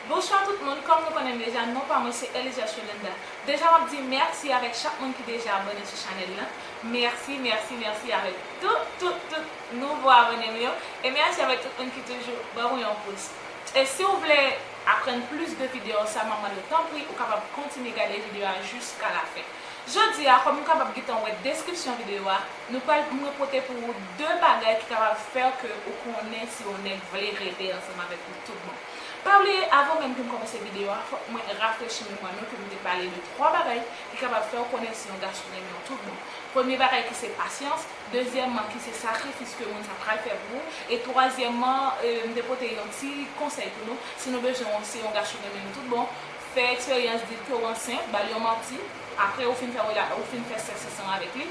Bonswa tout moun kòm nou konnenm deja non pa mwen se Elizias Yolanda deja map di mèsi avèk chak moun ki deja abòne sou chanèl lan mèsi mèsi mèsi avèk tout tout tout nouvo abònem yo e mèsi avèk tout moun ki toujou ban mwen yon pous e siw vle aprann plis de video sa map mandew tanpri ou kapab kontinye gade video a jiska la fen jodi a kòm ou kapab gentan wè deskripsyon video a nou pral mwen pote pou ou 2 bagay ki kapab fèw ke ou konnen si yon nèg vle rete ansanm avèk ou. Tout bon. Pa bliye avan menm ke m kòmanse videyo a, fòk mwen rafrechi memwa nou ke m te pale de 3 bagay ki kapab fè w konnen si yon gason renmen w tout bon. Premye bagay ki se pasyans, dezyèmman ki se sakrifis ke moun sa pral fè pou ou, e twazyèmman m te pote yon ti konsèy pou nou, si nou bezwen w si yon gason renmen nou tout bon, fè eksperyans, di l ke w ansent, ba l yon manti, apre ou fin fè rela ou fin fè sèks ansanm avèk li,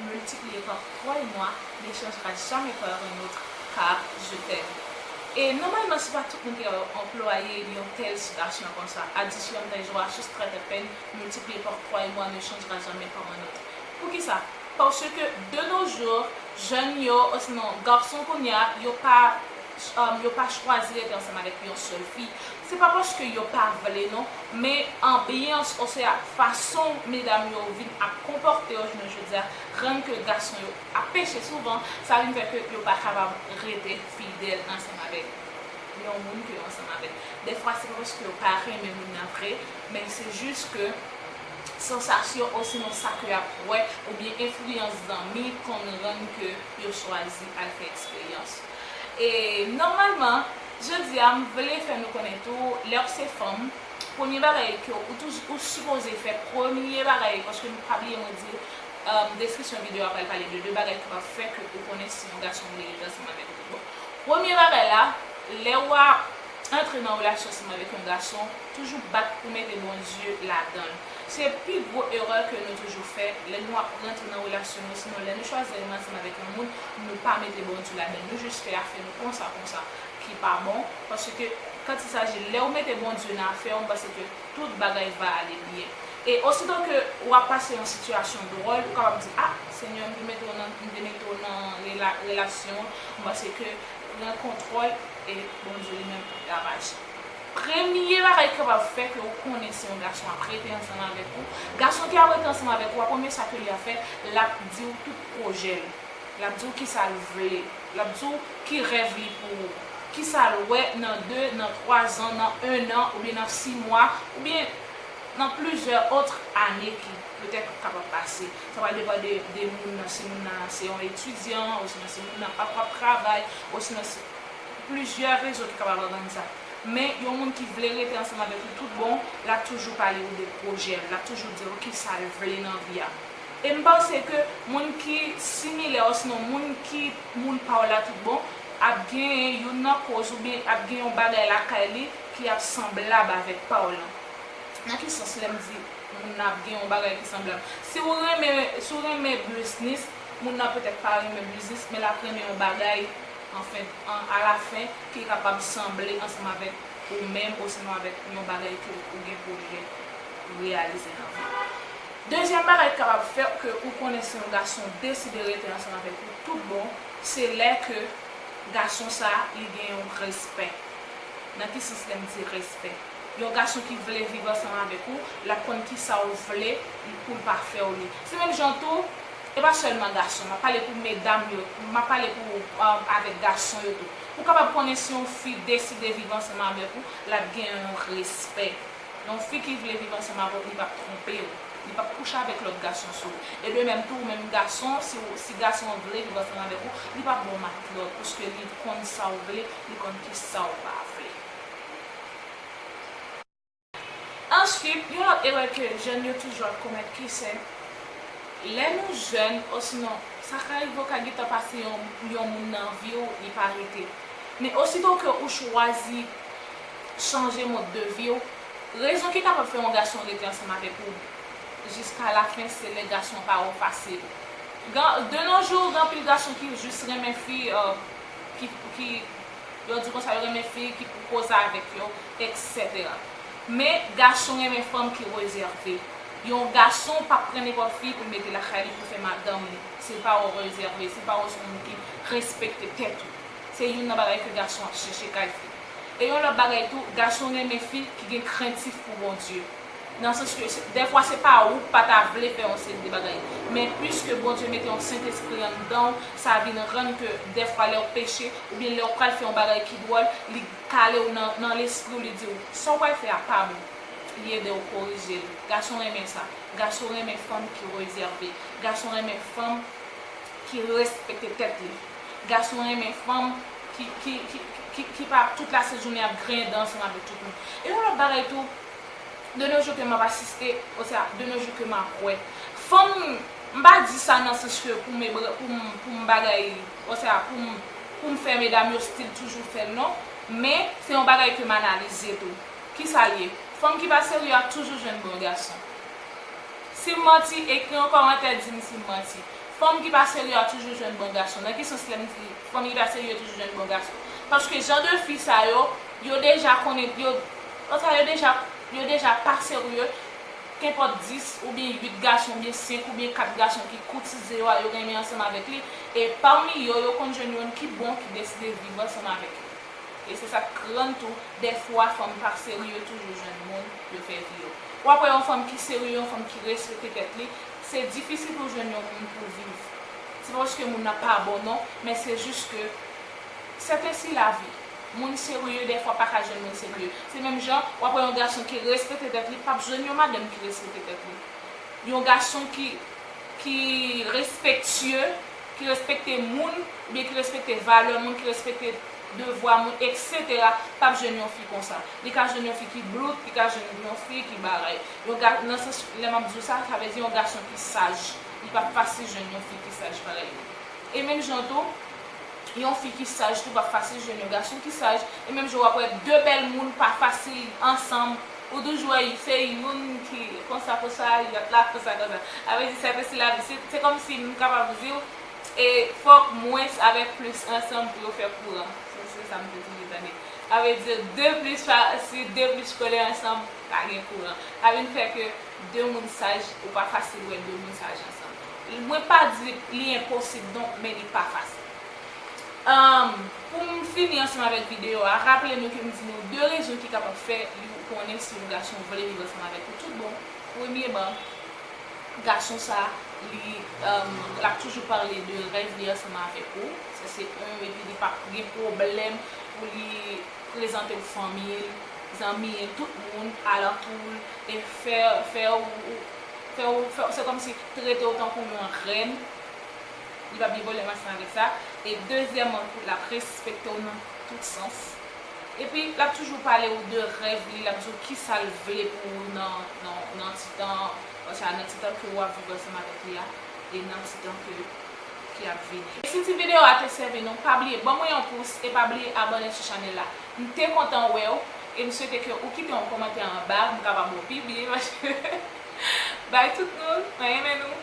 multipliye par twa e mwa lechans pa jamè par un autre ka je t'aime e nòmalman se pa tout moun ki kapab anplwaye yon tèl sitasyon konsa adisyon tè jwa sous trè tè pèn multipliye par twa e mwa ne chanjera jamè par un autre poukisa paske de nos jours jèn yo osinon garçon kounya yo pa yo pa chwazi rete ansanm avèk yon sèl fi, se pa paske yo pa vle non, men anbyans osea fason medam yo vin ap konpòte yo jounen jodi a rann ke gason yo ap peche souvan, sa vin fè ke yo pa kapab rete fidèl ansanm avèk yon moun ke yo ansanm avèk. Dèfwa se pa paske yo pa renmen moun nan vre, men se jis ke sansasyon osinon sa ke y ap wè oubyen enfliyans zanmi konn rann ke yo chwazi al fè eksperyans. E nòmalman, jodi a m vle fè nou konnen tou, lè ou se fanm, premye bagay ke ou toujou, ou sipoze fè, premye bagay, paske nou pa bliye mwen di, deskripsyon videyo a pral pale de 2 bagay ki pral fè ke ou konnen si yon gason vle rete ansanm avèk ou tout bon. Premye bagay la, lè ou ap antre nan relasyon ansanm avèk yon gason, toujou bat ou mete Bondye ladan l. Se pi gwo erè ke nou toujou fè, lè nou ap rantre nan relasyon nou, sinon lè nou chwazi al matyem avèk yon moun, nou pa mete Bondye ladann, nou jis fè afè nou konsa konsa, ki pa bon, paske quand il s'agit lè ou mete Bondye nan afè ou, m panse ke tout bagay va ale byen. E osito ke ou ap pase yon sitiyasyon dwòl, ou kapab di, ah, Senyè, m vle mete ou nan, m vle mete ou nan rela, relasyon an, m panse ke pran kontwòl, e Bondye li menm lap aji. Premye bagay ke wap fè ke ou konnen si yon gason ap rete ansanm avèk ou, gason ki ap rete ansanm avèk ou a premye sa ke li ap fè lap diw tout pwojèl, lap diw kisal vle, lap diw ki rèv li pou ou, kisal wè nan 2, nan 3 zan, nan 1 an, oubyen nan 6 mwa, oubyen nan plizyè otre ane ki petèt kapab pase. Sa pral depan de de moun nan si moun nan se yon etidyan, osinon si moun nan pap pap travay, osinon si. Plizyè rezon ki kapab rann sa. Men, yon moun ki vle rete ansanm avèk ou tout bon, l ap toujou pale ou de pwojè l, l ap toujou di ou ki sa l vle nan vi a. E m panse ke moun ki similè osnon moun ki moun pa w la tout bon, ap genyen youn nan koz oubyen ap gen yon bagay lakay li ki ap sanblab avèk pa w lan. Nan ki sans lè m di moun nan ap gen yon bagay ki sanblab? Si ou renmen, si w renmen biznis, moun nan petèt pa renmen biznis, men l ap renmen yon bagay Anfen, an alafen, ki kapab sanble ansanm avèk ou menm osinon avèk yon bagay ke ou gen pwojè reyalize nan vi ou. Dezyèm bagay ki kapab fè ke ou konnen si yon gason deside rete ansanm avèk ou tout bon, se lè ke gason sa a, li gen yon respè. Nan ki sans lè m di respè? Yon gason ki vle viv ansanm avèk ou, l ap konn kisa ou vle pou l pa fè ou li. Se menm jan tou. E pa sèlman gason, m ap pale pou medam yo, m ap pale pou avèk gason yo tou. Pou kapab konnen si yon fi deside viv ansanm avèk ou, l ap gen yon respè. Yon fi ki vle viv ansanm avèk ou, li p ap twonpe ou. Li p ap kouche avèk lòt gason sou ou. E de menm tou, ou menm gason, si gason an vle viv ansanm avèk ou, li p ap ba w matlòt, pwiske li konn sa ou vle, li konn ki sa ou pa vle. Answit, yon lòt erè ke jèn yo toujou ap komèt ki se, lè nou jèn osinon sa ka rive ou ka gentan pase yon yon moun nan vi ou li pa rete. Men osito ke ou chwazi chanje mòd de vi ou, rezon ki kapab fè yon gason rete ansanm avèk ou jiska lafen se lè gason pa ou fasil. Gan de no jou gan pil gason ki jis renmen fi ki ki Yo di konsa yo renmen fi ki pou koze avèk yo, eksetera. Men, gason renmen fanm ki rezève. Yon gason p ap pran nenpòt fi pou l mete lakay li pou l fè madanm li, si l pa wè w rezève, si l pa wè w se yon moun ki respekte tèt ou. Se youn nan bagay ke gason ap chèche kay fi. E yon lòt bagay tou, gason renmen fi ki gen krentif pou Bondye. Nan sans ke dèfwa se pa ou k pa ta vle fè yon seri de bagay. Men piske Bondye mete yon Sentespri anndan w, sa vin rann ke dèfwa lè w peche, oubyen lè w pral fè yon bagay ki dwòl, li kale w nan nan lespri w, li di w, sa w pral fè a pa bon. Li ede w korije l. Gason renmen sa. Gason renmen fanm ki rezève. Gason renmen fanm ki respekte tèt li. Gason renmen fanm ki ki ki ki pa tout lasejounen ap grinden ansanm avèk tout moun. E yon lòt bagay tou. de nos jours ke map asiste, osea de nos jours ke map wè fanm, m pa di sa nan sans ke pou m ebran, pou m, pou m bagay, osea pou m, pou m fè medam yo stil toujou fè l non, men se yon bagay ke m analize tou. Kisa l ye? Fanm ki pa serye ap toujou jwenn bon gason. Si m manti, ekri yon kòmantè di m si m manti. Fanm ki pa serye a toujou jwenn bon gason. Nan ki sans lè m di fanm ki pa serye toujou jwenn bon gason? Paske jan de fi sa yo, yo deja konnen, yo. Oswa yo deja yo deja pa serye, kenpòt 10 oubyen 8 gason oubyen 5 oubyen 4 gason ki koutize yo a yo renmen ansanm avèk li, e pami yo yo konn jwenn yonn ki bon ki deside viv ansanm avèk yo. E se sa k rann tou dèfwa fanm pa serye toujou jwenn moun yo fè vi yo. Ou ap wè yon fanm ki serye, yon fanm ki respekte tèt li, se difisil pou l jwenn yon moun pou l viv. Se pa paske moun nan pa bon non, men se jis ke sèten si lavi. Moun serye dèfwa pa ka jwenn moun serye. Se menm jan, w ap wè yon gason ki respete tèt li p ap jwenn yon madanm ki respete tèt li. Yon gason ki ki respektye, ki respekte moun oubyen ki respekte valè moun, ki respekte devwa moun eksetera p ap jwenn yon fi konsa. Li ka jwenn yon fi ki blout, li ka jwenn yon fi ki bagay. Yon ga, nan sans lè m ap di w sa, sa vle di yon gason ki saj. Li p ap fasil jwenn yon fi ki saj parèy li. E menm jan tou, Yon fi ki saj tou pap fasil jwenn yon gason ki saj e menm jan wap wè 2 bèl moun pa fasil ansanm ou toujou wè se youn ki konsa konsa lòt la konsa konsa avè di sa te se lavi se kòmsi m kapab diw e fòk mwens avèk plis ansanm pou yo fè kouran se sa m te toujou tande avè di 2 plis pa si 2 plis kole ansanm pa gen kouran sa vin fè ke 2 moun saj ou pa fasil wè 2 moun saj ansanm. Mwen pa di li enposib donk men li pa fasil. Pou m fini ansanm avèk videyo a, raple nou ke m di nou 2 rezon ki kapab fè yon konnen si yon gason vle viv ansanm avèk ou tout bon. Premyeman, gason sa li l ap toujou pale de rèv li ansanm avèk ou, sa se 1 epi li pa p gen pwoblèm pou li prezante w fanmi l, zanmi l, tout moun alantou l e fè w, fè w, fè w, se kòmsi trete w tankou yon rèn, li pap gen pwoblèm ansanm avèk sa, e dezyèman tou lap respekte w nan tout sans, epi lap toujou pale w de rèv li, lap di w kisa l vle pou ou nan ti tan an, sa nan ti tan ke wap viv ansanm avèk li a, e nan ti tan ke ki ap vini. Si ti video a te sèvi nou, pa bliye ban mwen yon pous e pa bliye abòne sou chanèl la. M te kontan wè w e m swete ke ou kite yon kòmantè anba pou m kapab wè w pi byen paske bye tout moun mwen renmen nou.